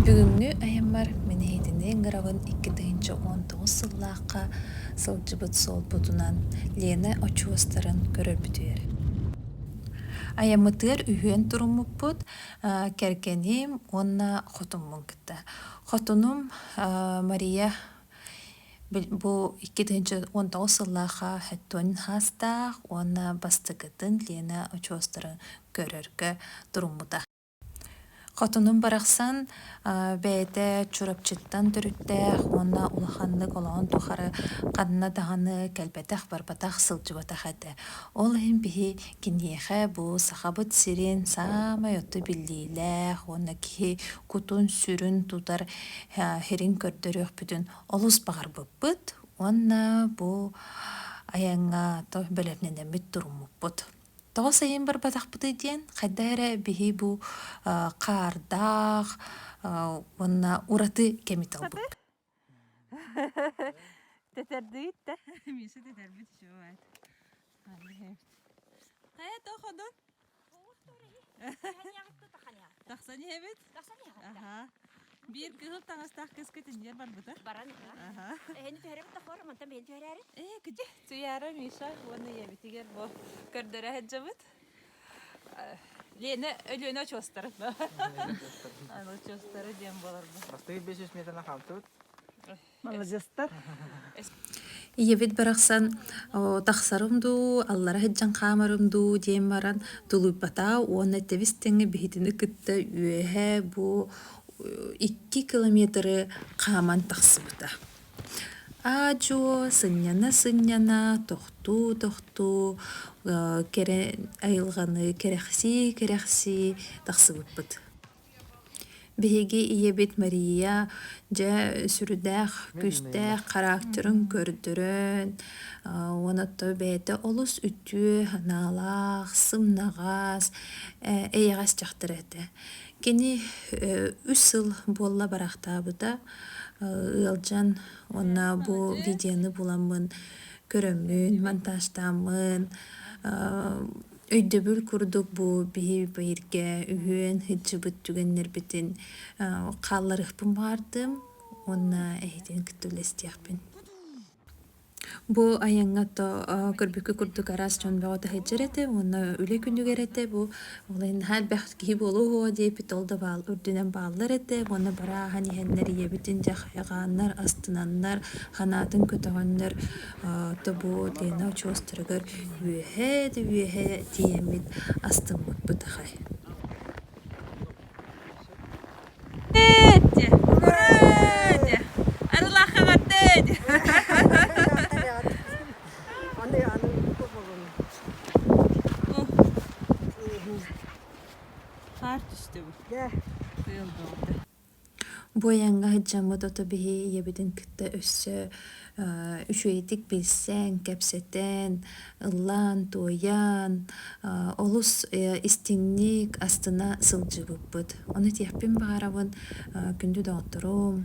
бүгүҥҥү айаммар мин иһитинии ыҥырабын икки тыһыынча уон тоҕус сыллаахха сылдьыбыт суолбутунан лена очуостарын көрөрбүтүгэр айаммытыгар үһүөн туруммуппут кэргэним уонна хотуммун кытта хотунум мария Бу икки тыһыынча уон тоҕус сыллаах хэттуун хаастаах уонна бастакытын Лена очуостарын көрөргө туруммута. Хотунум барахсан бэйэтэ Чурапчыттан төрүттээх уонна улаханнык олоҕун тухары ханна даҕаны кэлбэтэх-барбатах сылдьыбатах этэ. Ол иһин биһи киниэхэ бу Сахабыт сирин саамай отту биллиилээх уонна киһи кутун-сүрүн тутар Херин көрдөрүөхпүтүн олус баҕарбыппыт уонна бу айаҥҥа то бэлэмнэнэммит туруммуппут. Тоҕо сайын барбатахпытый диэн, хайда эрэ биһи бу хаардаах уонна ураты кэми талбыппыт. Тэтэрдиит да. Миша тэтэрбит үчүгэй. Хайа тоох одон? Тахсан иһэбит? Тахсан иһэбит. Биир кыһыл таҥастаах кэскэ тэнийэн барбыта. Баран аһа. Эһэни түһэрэбит тохор, мантан бэйэни түһэрээри. Ээ, кыдьы. Туйаара Миша уонна ийэбитигэр бу көрдөрө сылдьабыт. Лена Өлүөнэ очуостарын. Аны очуостары диэн болар бу. Бастыгы 500 метрынан хаамтыбыт. Маладьыастар! ийэбит барахсан тахсарым дуу, аллара сыдьан хаамарым дуу диэн баран тулуйбата уонна тэбис тэҥҥэ биһитини кытта үөһэ бу икки километры хааман тахсыбыта. аа-дьуо сынньана-сынньана тохтуу-тохтуу кэрэ айылҕаны кэрэхсии-кэрэхсии тахсыбыппыт Биһиги ийэбит Мария дьэ сүрдээх күүстээх характерын көрдөрөн уонна оттон бэйэтэ олус үтүө анаалаах, сымнаҕас, эйэҕэс дьахтар этэ. Кини үс сыл буолла барахтаабыта ыалдьан уонна бу видеоны буламмын көрөммүн, монтажтааммын Өйдөбүл курдук бу биһи бииргэ үһүөн сылдьыбыт түгэннэрбитин хаалларыахпын баҕардым уонна эһитин кытта үлэстиэхпин. Бу айаҥҥа то көрбүккү курдук араас дьон бөҕөтө сылдьар этэ уонна үлэ күнүгэр этэ бу олай наһаа элбэх киһи буолуо диэбит ол да баал үрдүнэн бааллар этэ уонна барааһын иһэннэр ийэбитин дьэ хайҕааннар астынаннар ханаатын көтөҕөннөр тобуот Лена очуостарыгар үөһээ да үөһээ тиийэммит астыммыт бытыхай. Хаар түстэ бу. Тыал да. Бу айаҥҥа сылдьаммыт оту биһи ийэбитин кытта өссө үчүгэйдик билсэн, кэпсэтэн, ыллаан, туойан олус истиҥник астына сылдьыбыппыт. Ону этиэхпин баҕарабын күндү доҕотторум,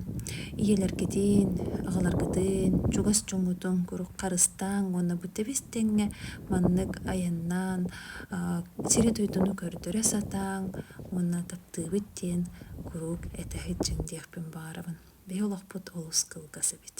ийэлэргитин, аҕаларгытын чугас дьоҥҥутун куруук харыстааҥ уонна бу тэбис тэҥҥэ маннык айаннаан сири-дойдуну көрдөрө сатааҥ уонна таптыыбыт диэн куруук этэ сылдьыҥ диэхпин баҕарабын биһи олохпут олус кылгас эбит